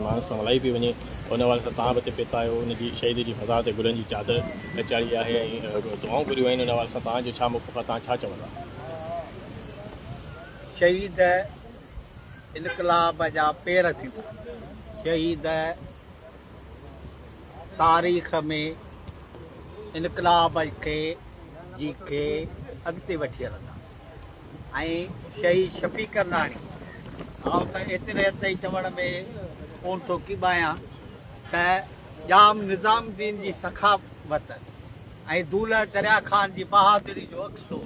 ماڻهن سان ملائي پئي وڃي ان حوالي سان تان به اتي پيتا آهيو ان جي شهيد جي مزار تي گلن جي چادر چاڙهي آهي ۽ دعائون گهريون آهن ان حوالي سان تان جو ڇا موقف آهي تان ڇا چوندا. شهيد انقلاب جا پير ٿيندا شهيد تاريخ ۾ انقلاب کي جي کي اڳتي وٺي هلندا. ۽ شهيد شفيق ڪرناڻي آئون ته ايتري حد تائين چوڻ ۾ ڪون ٿو ڪيٻايان ته ڄام نظام الدين جي سخاوت ۽ دولهه دريا خان جي بهادري جو عڪس هو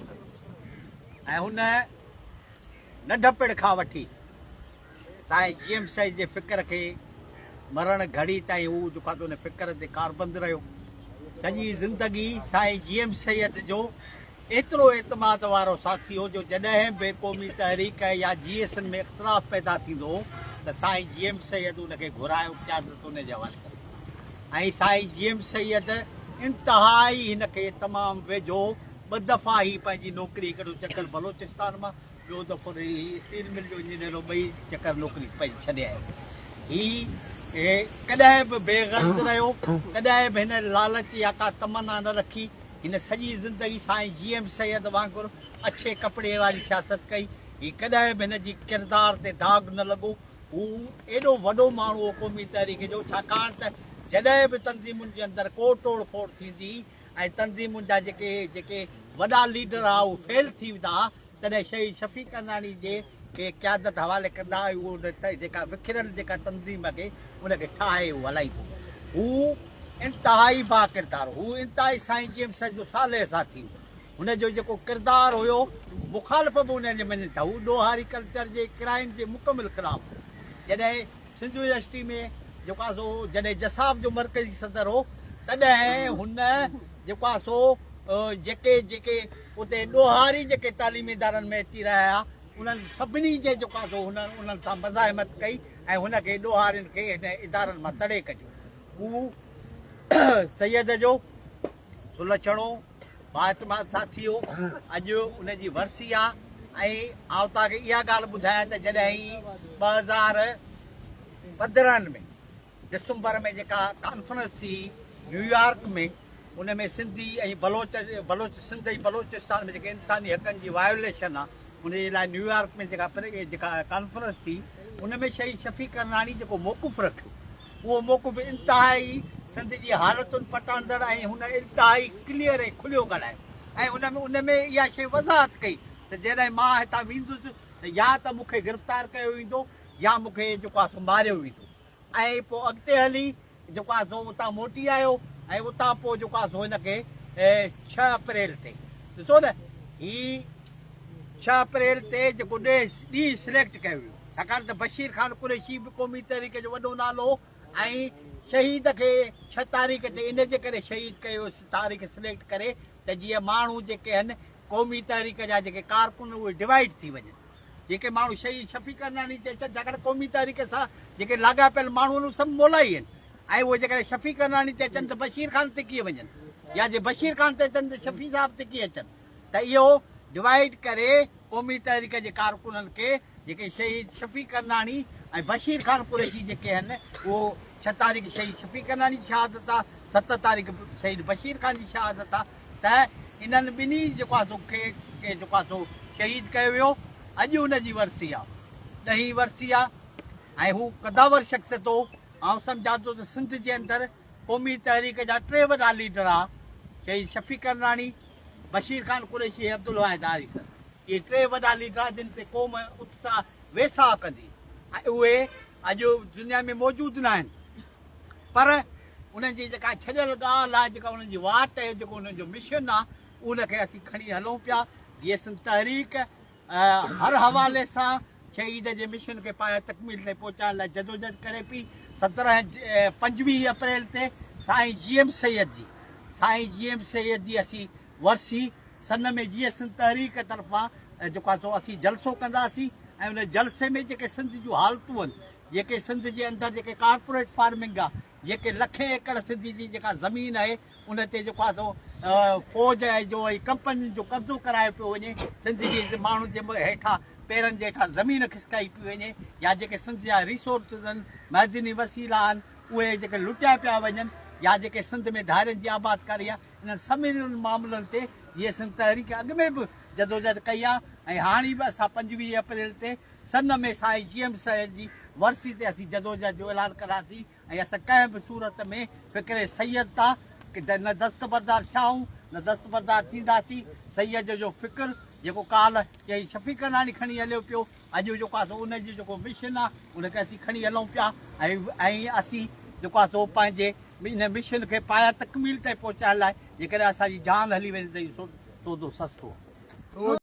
۽ هن ننڍپڻ کان وٺي سائين جي ايم سائين جي فڪر کي مرڻ گهڙي تائين هو جيڪو آهي ان فڪر تي ڪاربند رهيو سڄي زندگي سائين جي ايم سيد جو ايترو اعتماد وارو ساٿي هو جو جڏهن به قومي تحريڪ يا جي ايس اين ۾ اختلاف پيدا ٿيندو هو ته سائين جي ايم سيد ان کي گهرائي قيادت ان جي حوالي ڪري ۽ سائين جي ايم سيد انتهائي هن کي تمام ويجهو ٻه دفعا هي پنهنجي نوڪري هڪڙو چڪر بلوچستان مان ٻيو دفعو هي اسٽيل مل جو انجنيئر هو ٻئي چڪر نوڪري پنهنجي ڇڏيائين هي ڪڏهن به بي غرض رهيو ڪڏهن به هن لالچ يا ڪا تمنا نه رکي هن سڄي زندگي سائين جي ايم سيد وانگر اڇي ڪپڙي واري سياست ڪئي. هي ڪڏهن به هن جي ڪردار تي داغ نه لڳو. هو ايڏو وڏو ماڻهو هو قومي تحريڪ جو ڇاڪاڻ ته جڏهن به تنظيمن جي اندر ڪو ٽوڙ ڦوڙ ٿيندي هئي ۽ تنظيمن جا جيڪي جيڪي وڏا ليڊر ها اهي فيل ٿي ويندا ها تڏهن شهيد شفيق اندراڻي جي کي قيادت حوالي ڪندا ۽ اهو نه جيڪا وکريل جيڪا تنظيم آهي ان کي ٺاهي اهو هلائيندو هو انتهائي با ڪردار هو انتهائي سائين جي ايم سيد جو صالح ساٿي هو هن جو جيڪو ڪردار هيو مخالف به ان جي مڃن ٿا هو ڏوهاري ڪلچر جي ڪرائم جي مڪمل خلاف هو جڏهن سنڌ يونيورسٽي ۾ جيڪو آهي سو جڏهن جساب جو مرڪزي صدر هو تڏهن هن جيڪو آهي سو جيڪي جيڪي اتي ڏوهاري جيڪي تعليمي ادارن ۾ اچي رهيا هيا، انهن سڀني جي جيڪا سو هن انهن سان مزاحمت ڪئي ۽ هن کي ڏوهارين کي هن ادارن مان تڙي ڪڍيو. هو سيد جو سلڇڻو بااعتماد ساٿي هو. اڄ ان جي ورسي آ ۽ آئون توهان کي اها ڳالهه ٻڌايان ته جڏهن هي ٻه هزار پندرهن ۾ ڊسمبر ۾ جيڪا ڪانفرنس ٿي نيويارڪ ۾ ان ۾ سنڌي ۽ بلوچ بلوچ سنڌ ۽ بلوچستان ۾ جيڪي انساني حقن جي وايوليشن آ ان جي لاء نيويارڪ ۾ جيڪا جيڪا ڪانفرنس ٿي ان ۾ شهيد شفيق ڪرناڻي جيڪو موقف رکيو اهو موقف انتهائي سنڌ جي حالتن پٽاندڙ ۽ هن انتهائي ڪليئر ۽ کليو ڳالهايو ۽ ان ۾ ان ۾ اها شيء وضاحت ڪئي ته جڏهن مان هتان ويندس ته يا ته مونکي گرفتار ڪيو ويندو يا مونکي جيڪو آ سو ماريو ويندو ۽ پوء اڳتي هلي جيڪو آهي سو اتان موٽي آيو ۽ اتان پوء جيڪو آهي سو هن کي ڇهه اپريل تي ڏسو نه هي ڇهه اپريل تي جيڪو ڏينهن سليڪٽ ڪيو ويو ڇاڪاڻ ته بشير خان قريشي به قومي تحريڪ جو وڏو نالو هو ۽ شهيد کي ڇهه تاريخ تي ان جي ڪري شهيد ڪيو تاريخ سليڪٽ ڪري ته جيئن ماڻهو جيڪي آهن قومي تحريڪ جا جيڪي ڪارڪن اهي ڊوائيڊ ٿي وڃن جيڪي ماڻهو شهيد شفيق عدناني تي چرچا ڪن قومي تحريڪ سان جيڪي لاڳاپيل ماڻهو آهن اهي سڀ مولائي آهن ۽ اهي جيڪڏهن شفيق عدناني تي اچن ته بشير خان تي ڪيئن وڃن يا جي بشير خان تي اچن ته شفيع صاحب تي ڪيئن اچن ته اهو ڊوائيڊ ڪري قومي تحريڪ جي ڪارڪنن کي جيڪي شهيد شفيق عدناني ۽ بشير خان قريشي جيڪي آهن اهو ڇهه تاريخ شهيد شفيق عدناني جي شهادت آهي ست تاريخ شهيد بشير خان جي شهادت آهي ته انهن ٻنهي جيڪو آهي سو کي کي جيڪو آهي سو شهيد ڪيو ويو. اڄ ان جي ورسي آهي. ڏهين ورسي آهي ۽ هو قدآور شخصيت هو. آئون سمجهان ٿو ته سنڌ جي اندر قومي تحريڪ جا ٽي وڏا ليڊر آهي شهيد شفيق ڪرناڻي، بشير خان قريشي ۽ عبدالواحد آري سر. اهي ٽي وڏا ليڊر آهي جن تي قوم اتساهه ويساهه ڪندي ۽ اهي اڄ دنيا ۾ موجود ناهن. پر انهن جي جيڪا ڇڏيل ڳالهه آهي، جيڪا انهن جي واٽ آهي، جيڪو انهن جو مشن آهي، ان کي اسين کڻي هلون پيا. جيئي سنڌ تحريڪ هر حوالي سان شهيد جي مشن کي پايه تڪميل تائين پهچائڻ لاء جدوجهد ڪري پئي. سترهن پنجويهه اپريل تي سائين جي ايم سيد جي سائين جي ايم سيد جي اسين ورسي سن ۾ جيئي سنڌ تحريڪ طرفان جيڪو آهي سو اسين جلسو ڪنداسين ۽ ان جلسي ۾ جيڪي سنڌ جون حالتون آهن، جيڪي سنڌ جي اندر جيڪي ڪارپوريٽ فارمنگ آ جيڪي لکين ايڪڙ سنڌ جي جيڪا زمين آهي ان تي جيڪو آ سو فوج آهي جو ۽ ڪمپنين جو قبضو ڪرايو پيو وڃي سنڌ جي ماڻهن جي هيٺان پيرن جي هيٺان زمين کسڪائي پيو وڃي يا جيڪي سنڌ جا ريسورسز آهن معدني وسيلا آهن اهي جيڪي لٽيا پيا وڃن يا جيڪي سنڌ ۾ ڌارين جي آبادڪاري آ انهن سمورن معاملن تي جيئي سنڌ تحريڪ اڳ ۾ به جدوجهد ڪئي آ ۽ هاڻي به اسان پنجويهه اپريل تي سن ۾ سائين جي ايم سيد جي ورسي تي اسين جدوجهد جو اعلان ڪنداسين ۽ اسان ڪنهن به صورت ۾ فڪر سيد تان نه دستبردار ٿيا آهيون نه دستبردار ٿينداسين. سيد جو فڪر جيڪو ڪالهه چيئي شفيق ڪناڻي کڻي هليو پيو اڄ جيڪو آهي سو ان جو جيڪو مشن آهي ان کي اسين کڻي هلون پيا ۽ اسين جيڪو آهي سو پنهنجي ان مشن کي پايان تڪميل تائين پهچائڻ لاء جيڪڏهن اسان جي جان هلي وڃي ته اهو سودو سستو آهي.